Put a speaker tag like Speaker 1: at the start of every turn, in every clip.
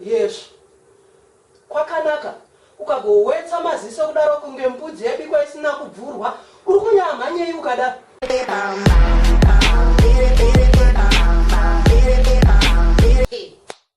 Speaker 1: yes kwakanaka ukagowetsa maziso kudaro kunge mbudzi yabikwa isina kubvurwa uri kunyamhanyei ukadaro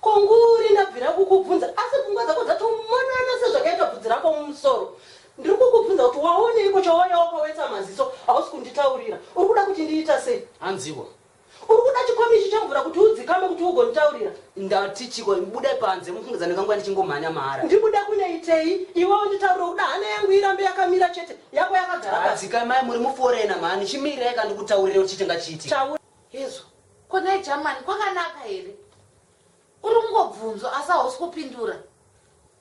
Speaker 1: Ko nguri ndabvira kukubvunza asi pfungwa dzako dzatomonana sezvakaita bvudzi rako mumusoro. Ndiri kukubvunza kuti waoneiko chawauya wakawetsa maziso hausi kunditaurira. Uri kuda kuti ndiita sei? Hanziwo.
Speaker 2: Uri kuda
Speaker 1: chikomichi chemvura kuti udzikame kuti ugonditaurira? Ndati chiko
Speaker 2: ndibude panze mufungidzira ndingangoya ndichingomhanya mahara. Ndibude kunoitei?
Speaker 1: Iwe unditaurire ukuda hana yangu irambe yakamira chete yako yakagara pasi. Dzikamai muri muforena
Speaker 2: mhani chimirirei ka ndikutaurire kuti chiite ngachiitike. Taura. Hezvo
Speaker 3: ko nhai Jamani kwakanaka here uri kungobvunzwa asi hausi kupindura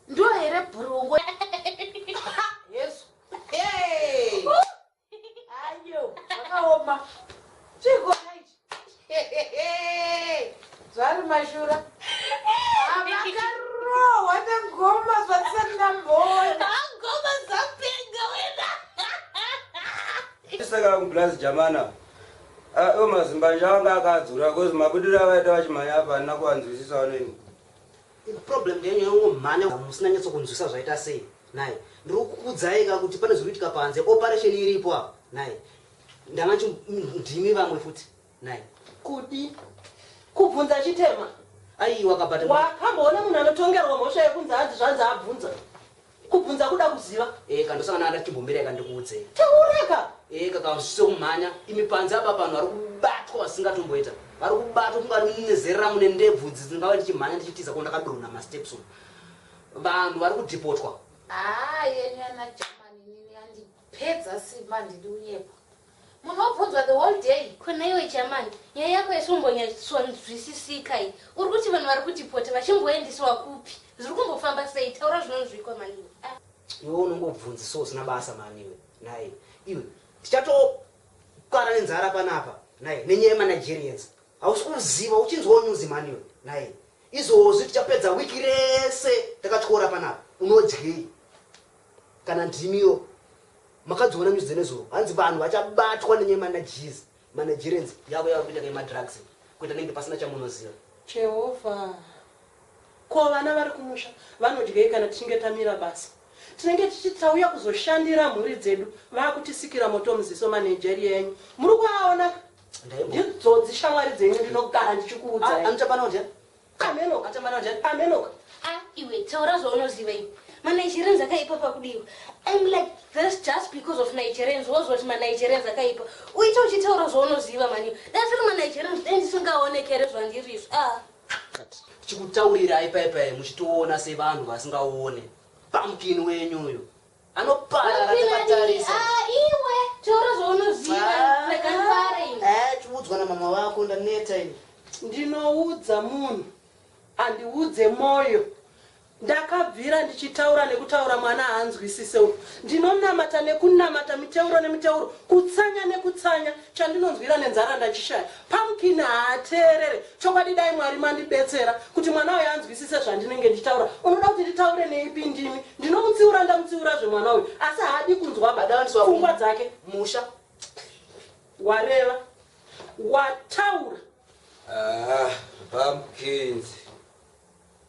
Speaker 3: ndiyo here bhurungo hezvo ayo zvakaoma chigona ichi zvari mashura makarohwa nengoma zvatisati ndamboona ngoma dzapenga wena
Speaker 4: saka kublazi jamana Ayo mazimbanje anga akadzura cause mabudiro avaita vachimhanya apa handina kuvanzwisisawo neni. Problem
Speaker 2: yenyu yongomhanya musina nyatso kunzwisa zvaita sei nhai. Ndiri kukuudzai ka kuti pane zviri kuitika panze operation iripo apa nhai. Ndanga nchi ndimi vamwe futi nhai. Kudi
Speaker 1: kubvunza chitema. Aiwa ka but.
Speaker 2: Wakamboona munhu
Speaker 1: anotongerwa mhosva yekunzi hanzi zvanzi abvunza. Kubvunza kuda kuziva. Eka ndosangana nada
Speaker 2: chimbomirai ka ndikuudzei. Taura ka.
Speaker 1: Eka ka zvisise
Speaker 2: kumhanya imi panze apa panhu vari kubatwa vasingatomboita vari kubatwa kungari munezerera mune ndebvu idzi dzingava ndichimhanya ndichitiza ko ndakadonha masteps umu vanhu vari kudhipotwa. Haa yenyu
Speaker 3: yana German inini yandipedza simba handidi unyepo. Munobvunzwa the whole day. Ko nhaiwe Chaman,
Speaker 5: nyaya yako yesvombonya-tsonzwisisika iyi. Uri kuti vanhu vari kudhipota vachimboendiswa kupi? Zviri kumbofamba sei? Taura zvinonzwikwa mhani iwe. Ah. Iwe
Speaker 2: unongobvunzi so usina basa mhani iwe. Nhai iwe, tichatokara nenzara panapa nhai nenyaya yemanigerians. Hausi kuziva uchinzwawo nyuzi mhani iwe. Nhai izvozvi tichapedza wiki rese takatyora panapa. Unodyei? Kana ndimiwo makadziona news dzenezuro hanzi vanhu vachabatwa nenye managees managerians yavo yavari kuita nema drugs kuita nenge pasina chamunoziva. Jehovha.
Speaker 1: Ko vana vari kumusha vanodyei kana tichinge tamira basa? Tinenge tichiti tauya kuzoshandira mhuri dzedu vaakutisikira moto muziso manageria enyu muri kuaona? Ndaimbo. Ndidzodzi shamwari dzenyu ndinogara ndichikuudzai. Amuchapanodya.
Speaker 2: Amenoka
Speaker 1: tamara njani amenoka.
Speaker 2: Ah
Speaker 1: iwe taura
Speaker 5: zvaunoziva iwe. Ma Nigerians akaipa pakudiwa. I'm like this just because of Nigerians was what ma Nigerians akaipa. Uite uchitaura zvaunoziva mani. That's why ma Nigerians then ndisingaoneke here zvandiri izvo. Ah. Chikutaurira
Speaker 2: ipai pai muchitoona sevanhu vasingaone. Pumpkin wenyu uyo. Anoparara akakatarisa. Ah iwe
Speaker 5: taura zvaunoziva rega ndifare ini. Eh chiudzwa na mama vako
Speaker 2: ndaneta ini. Ndinoudza
Speaker 1: munhu andiudze moyo. Ndakabvira ndichitaura nekutaura mwana haanzwisise uyu. Ndinonamata nekunamata miteuro nemiteuro kutsanya nekutsanya Chandinonzwira nenzara ndachishaya. Pumpkin haateerere. Chokwadi dai Mwari mandibetsera kuti mwana uyu anzwisise zvandinenge ndichitaura. Unoda kuti nditaure neipi ndimi? Ndinomutsiura ndamutsiurazve mwana uyu asi haadi kunzwa pfungwa dzake. Musha. Wareva. Wataura. Aah
Speaker 5: pumpkins.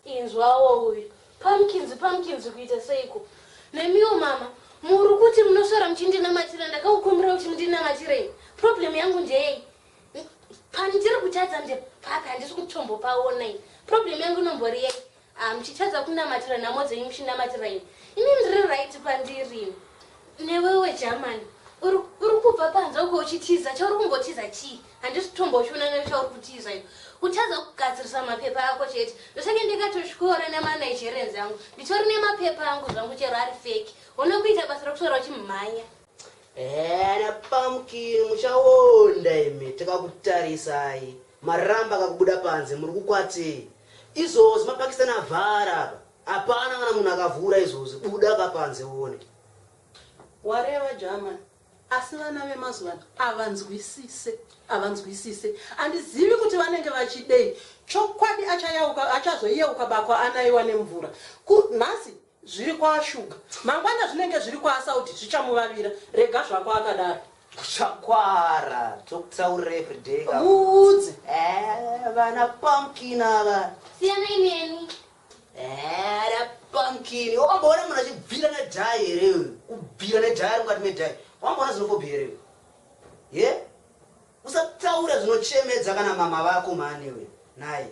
Speaker 5: Inzwawo uyu Pumpkins Pumpkins kuita seiko? Nemiwo mama muri kuti munoswera muchindinamatira ndakakukumbira kuti mundinamatirei? Problem yangu ndeyei? Pandiri kutadza ndepapi handisi kutombopaona ini. Problem yangu inombori yei? Ah muchitadza kunamatira nhamo dzenyu muchinamatira ini. Ini ndiri right pandiri ini. Newewe German uri uri kubva panze uko uchitiza chauri kumbotiza chii? Handisi kutombochiona nezvauri kutiza iyo. Kutadza kugadzirisa mapepa ako chete. Ndosenge ndikatoshkora nema Nigerians angu. Nditori nemapepa angu zvangu chero ari fake. Hone kuita basa rekuswera uchimhanya. Ehe ana
Speaker 2: pumpkin muchaonda imi takakutarisai. Maramba kakubuda panze muri kukwatei. Izvozvi mapakistani avhara apa. Hapana kana munhu akavhura izvozvi buda ka panze uone.
Speaker 1: Wareva German. Asi vana vemazuvano avanzwisise avanzwisise andizivi kuti vanenge vachidei chokwadi achayauka achazoyeuka bako anaiwa nemvura ku nhasi zviri kwaashuga mangwana zvinenge zviri kwaasaudi zvichamuvavira rega zvako akadaro Chakwara
Speaker 2: tokutaurira everyday ka. Muudze.
Speaker 1: Eh,
Speaker 2: vana pumpkin ava. Siyanai neni.
Speaker 5: Era
Speaker 2: pumpkin wamboona munhu achibvira nedhai here iwe kubvira nedhai ari mukati medhai wamboona zinofobi here iwe ye usataura zvinochemedza kana mama vako mhani iwe nhai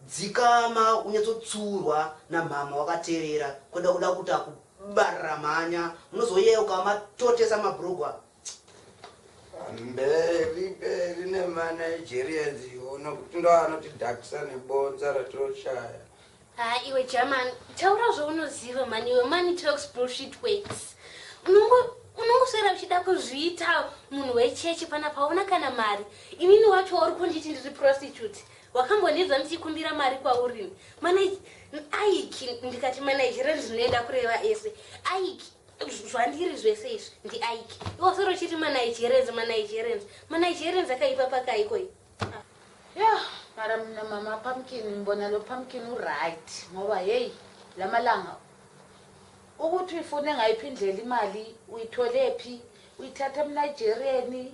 Speaker 2: dzikama unyatsotsurwa namhama wakaterera kweda kuda kuti akubarira mhanya munozoyeuka matotesa mabrugwa mberi
Speaker 4: mberi nemanigerians iwo nokuti ndo anotidhakisa nebonza ratoshaya haa iwe
Speaker 5: german taura zvaunoziva mani iwe money talks bullshit works unongoswera uchida kuzviita munhu wechechi pana paona kana mari inini wacho wauri kunditi ndiri prostitute wakambonidza ndichikumbira mari kwaurini aiki ndikati manigerian zvinoenda kureva ese aiki Zvandiri zvese izvi ndi Ike. Iwe usoro chiti ma Nigerians, ma Nigerians. Ma Nigerians akaipa paka Iko iyi. Yeah,
Speaker 3: mara mama pumpkin mbona lo pumpkin u right. Ngoba hey, lamalanga ukuthi uyifune ngayiphi indlela imali uyitholephi uyithatha emnigerieni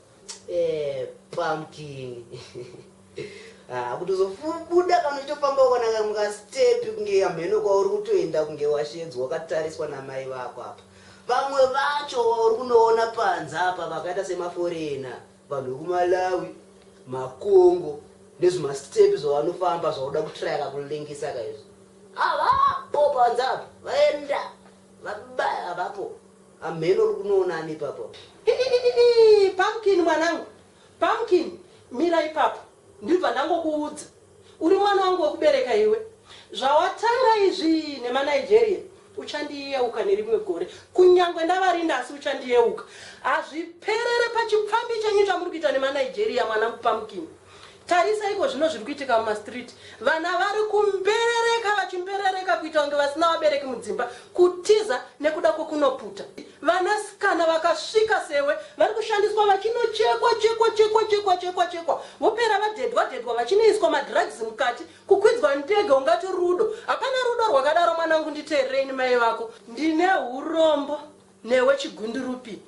Speaker 1: Eh, pumpkin
Speaker 2: ah, kutozobuda kana uchitofamba ukana kamwe kastepi kunge hamheno kwauri kutoenda kunge washedzwa wakatariswa namai vako apa vamwe vacho vauri kunoona panze apa vakaita semaforena vanhu vekumalawi makongo nezvimastepi zvavanofamba zvauda kutraya kakulengesa kaizvo avapo panze apa vaenda vabaya vapo Hamheno uri kunoona ani ipapo apa? Iiiiiii
Speaker 1: Pumpkin mwanangu Pumpkin mira ipapo ndibva ndangokuudza uri mwana wangu wekubereka iwe zvawatanga izvii nema Nigeria uchandiyeuka nerimwe gore kunyangwe ndavarinda asi uchandiyeuka hazviperere pachipfambi chenyu chamuri kuita nema Nigeria mwanangu Pumpkin. Tarisa ikozvino zviri kuitika mumastreet. Vana vari kumberereka vachimberereka kuita kunge vasina vabereki mudzimba, kutiza nekuda kwekunoputa. Vanasikana vakasvika sewe vari kushandiswa vachinochekwa chekwa chekwa chekwa chekwa chekwa vopera vadedwa dedwa vachinoiswa madrugs mukati, kukwidzwa ndege ungati rudo. Hapana rudo rwakadaro mwanangu nditeererei ini mai vako. Ndine hurombo newe chigundurupi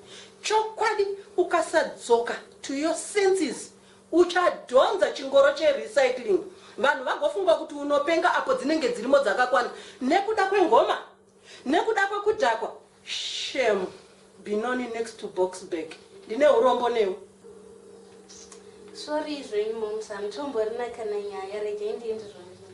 Speaker 1: chokwadi ukasadzoka to your senses. Uchadhonza chingoro che recycling vanhu vagofunga kuti unopenga apo dzinenge dzirimo dzakakwana nekuda kwengoma? Nekuda kwekudhakwa? Shame! Binoni next to Boksburg. Ndine hurombo newe. Sorry
Speaker 5: zvenyu momsa, hamtomborina kana nyaya, regai ndiende zvangu.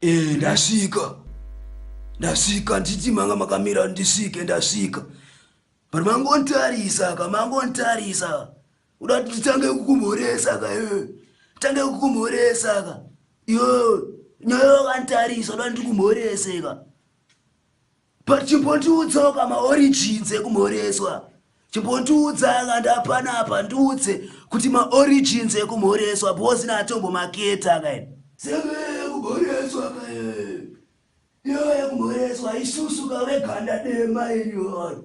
Speaker 6: Eh, ndasvika ndasvika nditi manga makamira ndisvike ndasvika but mangontarisa ka mangontarisa uda kuti titange kukumhoresa ka eh, titange kukumhoresa ka yo nyaya wakantarisa uda kuti ndikumhorese ka But chimbondiudzawo ka ma origins ekumhoreswa. Chimbondiudza ka ndapana apa ndiudze kuti ma origins ekumhoreswa because ini hatombo maketa ka ini. Saka kumhoreswa ka iyo yekumhoreswa isusu ka veganda dema iri or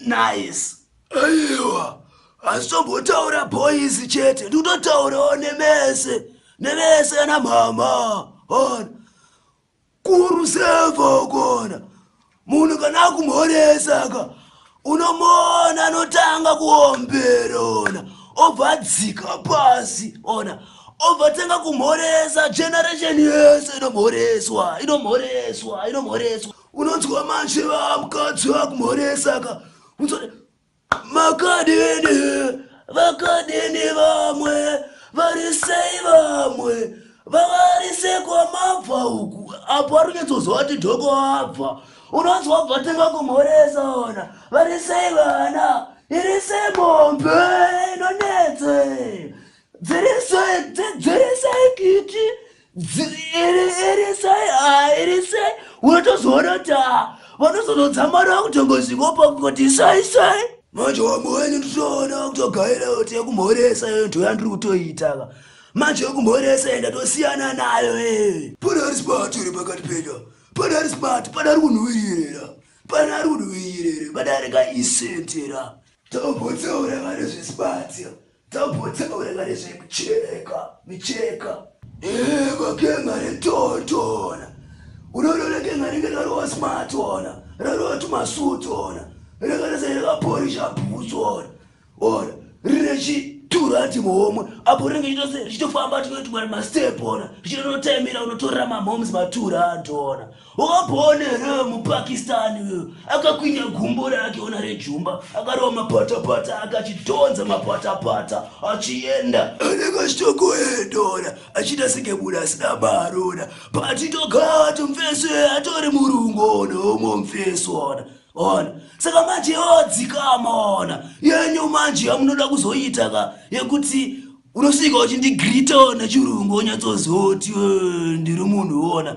Speaker 6: Nice. Aiwa, asi tombotaura boys chete ndikutotaurawo nemese nevese ana mhama ona kuruseva ukona munhu kana akumhoresa ka unomuona anotanga kuombera ona obva adzika pasi ona obva tanga kumhoresa generation yese inomhoreswa inomhoreswa inomhoreswa unonzwa manje vamukadzi vakumhoresa ka unzwa makadini vakadini vamwe vari sei vamwe vavari sekwamabva uku apo ari kunyatsoziva kuti dhoko abva unonzwa bva tenga kumhoresa ona vari sei vana iri sei mombe inonetse dziri sei dziri sei kiti irisai ah, irisai unotozoona kuti ah, vanozonotsamara kutongozvikopa kuti sai sai manje wamwe wenyu nditoona kutogaira kuti yekumhoresa iyo nto yandiri kutoitaka manje yekumhoresa enda tosiyana nayo ee pana ari smart uri pakati penya pana ari smart pana ari kunhuwirira pana ari kunhuwirira pana ari kaisentera tobotsaura vanezvesibatsa Tapotsa kuverenga nezvekuchereka micheka. Ego kenga retotona. Unodona kenga ringe rarowa smart ona. Rarowa tumasuit ona. Rega rese rakaporisha boots ona. Ona. Rine chiturati muhomwe. Apo ringe chitose richitofamba tinoti mari mastep ona. Richitonotaimira unotorera mamoms matura antona. Wakaona here muPakistan uyo akakwinya gumbo rake ona rejumba akarova mapatapata ake achidhonza mapatapata achienda anekachitokoedora achida sekebuda asina marona patitogati mfeso atori murungu ona omo mfeso ona ona saka manje yodzikama ona yenyu manje yamunoda kuzoita ka yekuti unosvika uchindigrita ona chirungu onyatsozoti ndiri munhu ona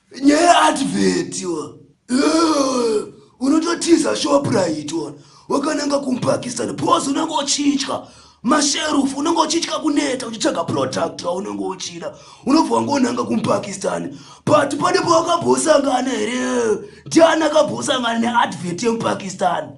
Speaker 6: Nyaya advert wa. Eh, unototiza shoprite wa. Wakananga kumpakistan pose unenge uchitya masherufu unenge uchitya kuneta uchitsvaga product waunenge uchida unobva wangonanga kumpakistan but pane pawakambosangana here ndiani akambosangana neadvert yemupakistan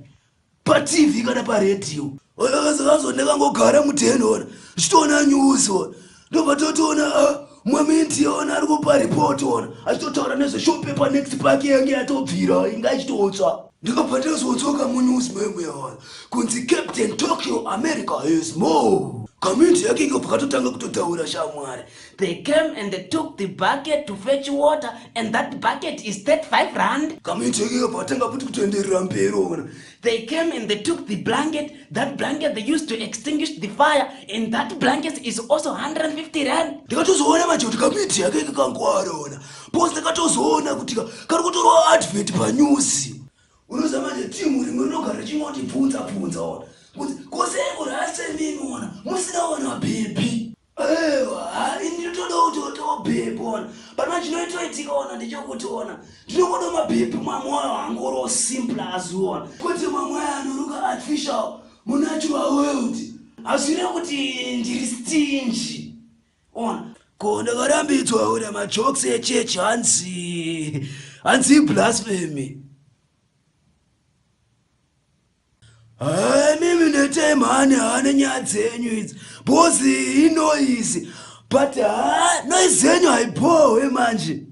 Speaker 6: patv kana paredhiyo vakazovazone vangogara mudhen ona zvichitoona news ona ndobva totoona ah, mwaminti ona ari kupa report ona achitotaura nezveshopepa next park yange yatobvira inga ichitotsva ndikabva ndazodzoka munews meme yaona kunzi captain tokyo america has more kaminti yake inga bvakatotanga kutotaura shamwari They came and
Speaker 7: they took the bucket to fetch water and that bucket is 35 rand. Kamuichekeka patanga
Speaker 6: kuti kutoenderera mberi ona. They came and they
Speaker 7: took the blanket. That blanket they used to extinguish the fire and that blanket is also 150 rand. Ndikatozoona manje kuti
Speaker 6: kamuiti yake kakangwara ona. Boss ndakatozoona kuti kari kutorwa advert panews. Unoziva manje team rimwe rinogara richingoti bvunza bvunza ona. Kuti kose kurase mimi ona musina ona baby. Ewa, haa ini ndinotoda kuti otowo bhebhi ona. Pana chinoitoitika ona ndechokuti ona. Ndinokoda mabhebhi mwamoyo hangu oro simple as ona. Kuti mwamoyo anoruka artificial munatural world. Hazvire kuti ndiri stingy. Ona. Ko ndakarambidzwa ona majokes echurch hanzi hanzi blasphemy. Haa mimi netai mhani haane nyaya dzenyu idzi bhozi inoizi but haa noizi yenyu haibhohwe manje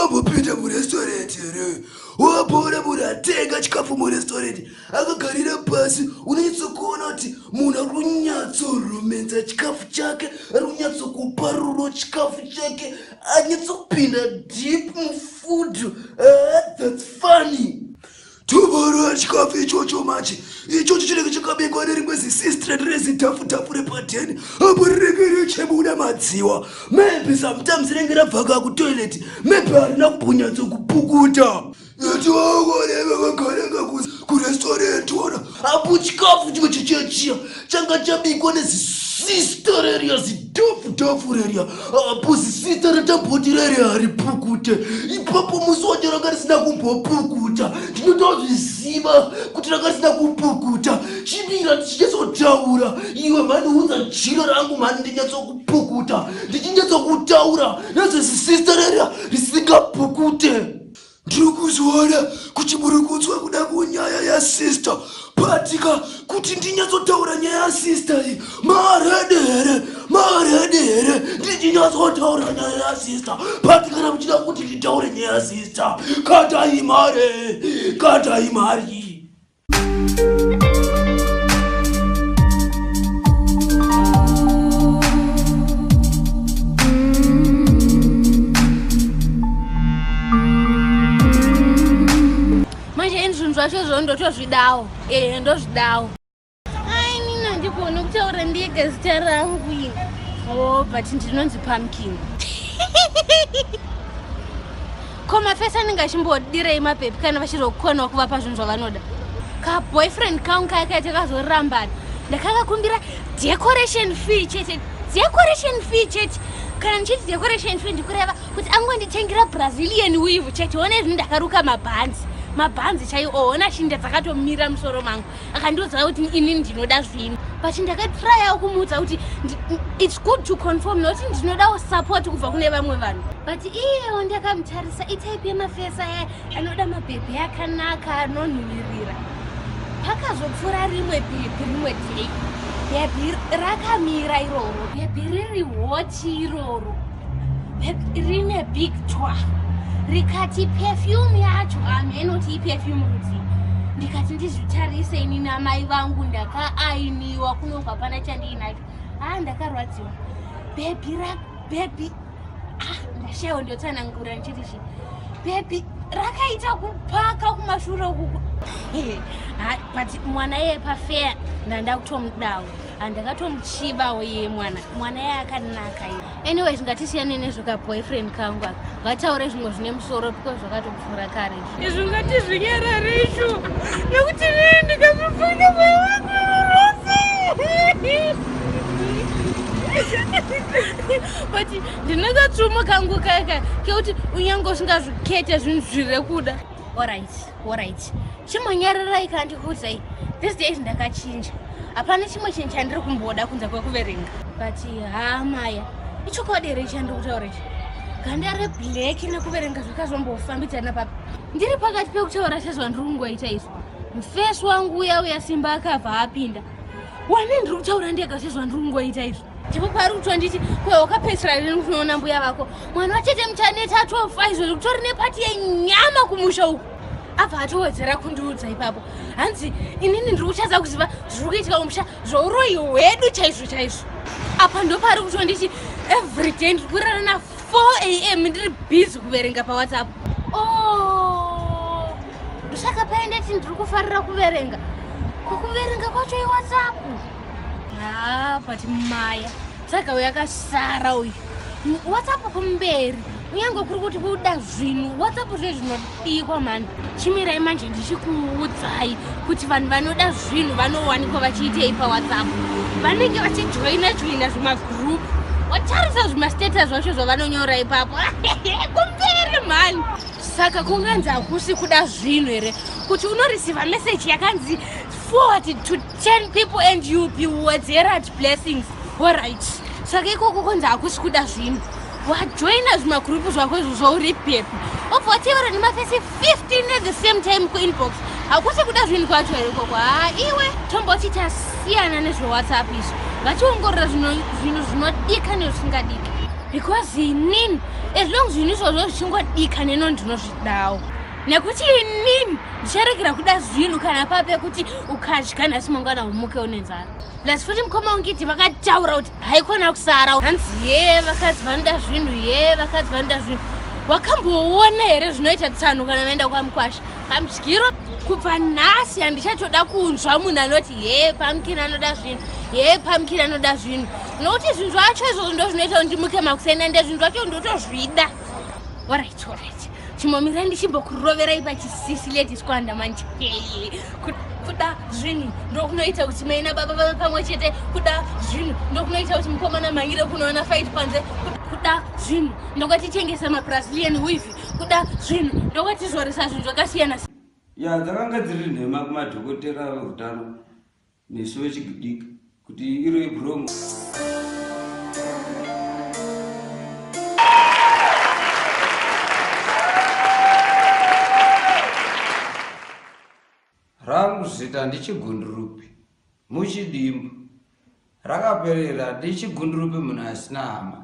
Speaker 6: obopinda murestorenti here wabora munhu atenga chikafu murestorenti akagarira pasi unonyatsokuona kuti munhu ari kunyatsoromenza chikafu chake ari kunyatsokupa rudo chikafu chake anyatsokupinda deep mufood ah, that's funny Tuboro chikafu ichocho manje ichocho chinenge chakabekwa nerimwe zisistireti rezidhafudhafu repadheni apo rinenge richibuda madziwa maybe sometimes rinenge rabvaka kutoileti maybe harina kumbonyatso kupukuta iti vaoneva vagaranga kurestaurant wana apo chikafu chimwe chechiya chiya changa chabikwa nezisista reriya zidhofudhofu reriya apo zisista ratamboti reriya haripukute ipapo musi wacho ranga risina kumbopukuta ndinotozviziva kuti ranga risina kupukuta chimira ndichinyatsotaura iwe mhani unza jiro rangu mhani ndinyatsokupukuta ndichinyatsokuta kutaura nezvezisista rerya risingapukute Ndiri kuzoona kuti muri kunzwa kuda kunyaya yasister patika kuti ndinyatsotaura nyaya yasister iyi maaredi here maaredi here ndichinyatsotaura nyaya yasister pati kana muchida kuti nditaure nyaya yasister katai mari katai mari
Speaker 5: zvacho zvo ndotozvidawo ee eh, ndozvidawo ai nina ndikuona kutaura ndega zita rangu ini o oh, but ndinonzi pumpkin ko mafesi anenge achimbodirei mapepi kana vachiri kukwanwa kuvapa zvinhu zvavanoda kaboyfriend kangu kaya kaita kazorambana ndakakakumbira decoration fee chete decoration fee chete kana ndichiti decoration fee ndikureva kuti angonditengera brazilian weave chete one zvinhu ndakaruka mabhanzi mabhanzi chaiwo ona shinda dzakatomira musoro mangu akandiudza kuti ini ndinoda zvinhu but ndakatryawo kumuudza kuti its good to conform nokuti ndinodawo support kubva kune vamwe vanhu but iyewo ndakamutarisa itype yemafesa aya anoda mabhebhi akanaka anonhuvirira pakazopfuura rimwe bhebhi rimwe day bhebhi rakamira iroro bhebhi riri hot Shiti iroro rine big twa rikati perfume yacho hameno ti iperfume rudzi ndikati ndizvitarise ini namai vangu ndakaainiwa kunobva pana chandiinacho haa ndakarwadziwa bhebhi ra bhebhi ah ndashaiwa ndotsanangura ndichiti chi bhebhi rakaita kupaka kumashure ukuku but mwana iye pafeya ndandakutomudawo andakatomuchivawo ye mwana mwana ye akanaka ye anyway zvingatisiyane nezvoka boyfriend kangu aka vataure zvimwe zvine musoro because zvakatopfuura kare izvi ngati zvinyarare izvo nekuti rii ndikazvipfuina moyo wangu rose but ndinekatsvumo kangu kaka kekuti unyange usingazvikete zvinhu zviri kuda orit Alright. Chimonyararai kana ndikuudzai. These days ndakachinja. Hapana chimwe chinhu chandiri kumboda kunze kwekuverenga. But haa Maya, ichokwadi here chandiri kutaura ichi? Ganda reblack nekuverenga zvakazombofambidzana papi? Ndiri pakati pekutaura sezvandiri kungoita izvo. Mfesi wangu uya uya Simba akabva apinda. Wani ndiri kutaura ndega sezvandiri kungoita izvo. ndipo paari kutonditi kwe wakapedzisira rini kunoona mbuya vako mwana wachete muchaneta atofa izvo zvekutori nepati yenyama kumusha uku abva atowedzera kundiudza ipapo hanzi inini ndiri kuchadza kuziva zviri kuitika kumusha zvouroyi hwedu chaizvo chaizvo apa ndopaari kutonditi every day ndiri kurara na 4 am ndiri busy kuverenga pawhatsapp o oh, ndosaka paendeti ndiri kufarira kuverenga kukuverenga kwacho iwhatsapp haa ah, but maya saka uyu akasara uyu whatsapp kumberi kunyange kuri kuti kuda zvinhu whatsapp zve zvinodikwa mhani chimirai manje ndichikuudzai kuti vanhu vanoda zvinhu vanowanikwa vachiitei pawhatsapp vanenge vachijoina joina zvimagroup watarisa zvimastatus zvacho zvavanonyora ipapo kumberi mhani saka kunganzi hakusi kuda zvinhu here kuti unorisiva meseji yakanzi forward to 10 people and you be wedzerad blessings orit saka ikoko konzi hakusi kuda zvinhu wajoina zvimagurupu zvako izvo zvauri pepi obva watevera nemafesi 15 at the same time kuinbox hakusi kuda zvinhu kwacho here ikoko haa iwe tomboti tasiyana nezvewhatsapp izvo vachiongorora zvinhu zvinodika nezvisingadika because inini as long zvinhu izvozvo zvichingodika neno ndinozvidawo nekuti inini ndicharegera kuda zvinhu kana pape kuti ukadya nhasi mangwana umuke une nzara plus futi mukoma ungiti vakataura kuti haikona kusara hanzi ye vakadzi vanoda zvinhu ye vakadzi vanoda zvinhu wakamboona here zvinoita tsano kana vaenda kwamukwasha pamudyiro kubva nhasi handichatoda kunzwa munhu anoti ye pamukini anoda zvinhu ye pamukini anoda zvinhu nokuti zvinhu zvacho izvozvo ndo zvinoita kuti ndimuke makuseni ande zvinhu zvacho ndotozvida orit orit chimomira ndichimbokuroverai pachisisi ladies kwanda manje kuda zvinhu ndokunoita kuti mai nababa vave pamwe chete kuda zvinhu ndokunoita kuti mukomana mhangire kunoona fight panze kuda zvinhu ndokwatichengesa mabrazilian wivi kuda zvinhu ndokwatizoresa zvinhu zvakasiyana ya dzakanga
Speaker 4: dziri nhema kumadhokotera veutano nesu vechidiki kuti iro ibrongo rangu zita ndichigundurupi muchidimbu rakaperera ndichigundurupi munhu asina hama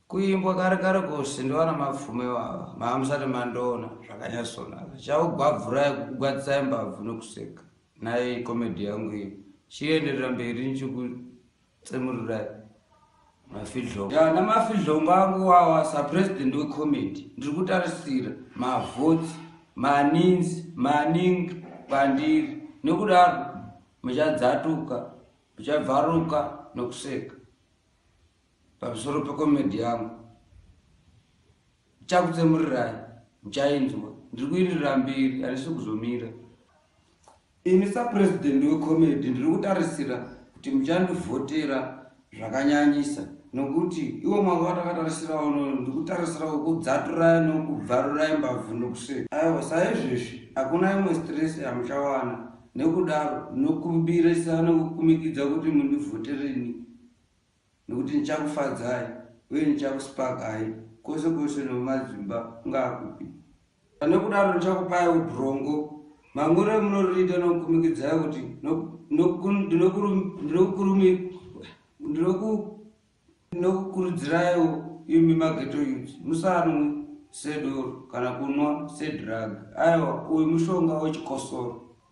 Speaker 4: Kuimbwa kare kare kose ndovana mapfume vava maamusati mandoona zvakanyatsonaka chakugwabvurai kukugwadzisai mbabvu nokuseka nai komedhi yangu iyo chienderera mberi nichikutsemurirai mafidhlongo ya namafidhlongo angu wawa sapresident wecomedi ndiri kutarisira mavhotsi maninzi maningi kwandiri nokudaro muchadzatuka muchabvaruka nokuseka Pamusoro pekomedhi yangu chakutsemurirai muchainzwa ndiri kuindirira mbiri handisi kuzomira ini sapurezidendi wekomedhi ndiri kutarisira kuti muchandivhotera zvakanyanyisa nokuti iwo mwaka watakatarisira uno ndikutarisira kukudzaturaya nokubvarurai mbabvu nokuseka aiwa saizvezvi hakuna imwe stress yamuchawana nekudaro nokumbirisa nokukumikidza kuti mundivhotereni Nokuti ndichakufadzai, uye ndichakusipagai kwose kwose nomumadzimba kungaa kupi. Pane kudaro ndichakupaiwo brongo, mamwiro emunoririita nokukumikidzai kuti ndinokukurudziraiwo imi maghetto youths, musanwe sedoro kana kunwa sedrug. Aiwa, uyu mushonga wechikosoro.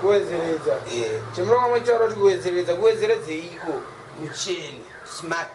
Speaker 4: kuwedzeredza
Speaker 8: chimurova mwechoaro kuti kuwedzeredza kuwedzeredzeiko mucheni smart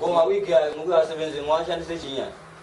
Speaker 8: Koma wiki ayo mukuvasebenzi mwashandise chinyaya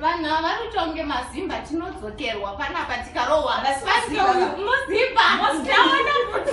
Speaker 9: vanhu ava vanoti kunge mazimba tinodzokerwa panapa tikarohwa muzimba ndaona kuti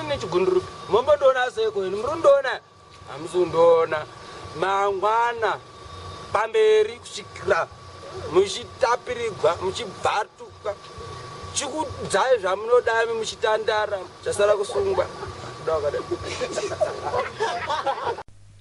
Speaker 10: nechigundurupi mombondiona seko ini muri kundiona hamusi kundiona mangwana pamberi kusvikira muchitapirigwa muchibvatuka chikudzai zvamunodami muchitandara chasara kusungwa kuda wakadai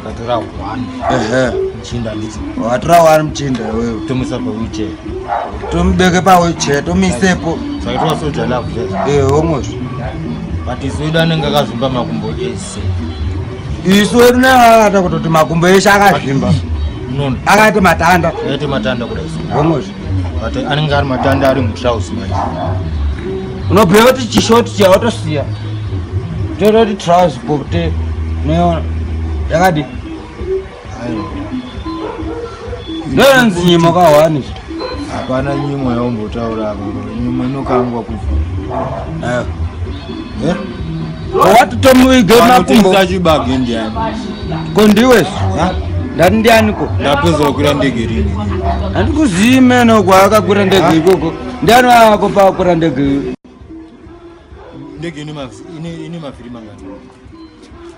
Speaker 11: ndatora one ehe mchinda ndicho watora one mchinda
Speaker 10: wewe tomisa pa wheelchair
Speaker 11: tombeke
Speaker 10: pa wheelchair tomisepo sakaitwa soja
Speaker 11: love eh homos
Speaker 10: but
Speaker 11: isu wedu anenge akazvimba makumbo ese
Speaker 10: isu wedu neakata kutoti makumbo eshe akazvimba akati matanda akati matanda kudai
Speaker 11: homos
Speaker 10: but anenge
Speaker 11: ari matanda ari mutrouse manje
Speaker 10: unobhuya kuti chishoti chiya watosiya toita kuti trouse pote unoiona yakadi ndoinonzi nyimo kahwani zvi hapana
Speaker 11: nyimo yaumbotaura apa nyimo inokangwa kufa
Speaker 10: Eh? Wati tomuige makumbo. Chibage ndiani?
Speaker 11: Ko ndiwe?
Speaker 10: Ndati ndiani ko? Ndapedza kukwira ndege
Speaker 11: rini. Andikuzivi
Speaker 10: meno kwaakakwira ndege ikoko. Ndiani wako paakwira ndege?
Speaker 11: Ndege ine mavhiri mangani?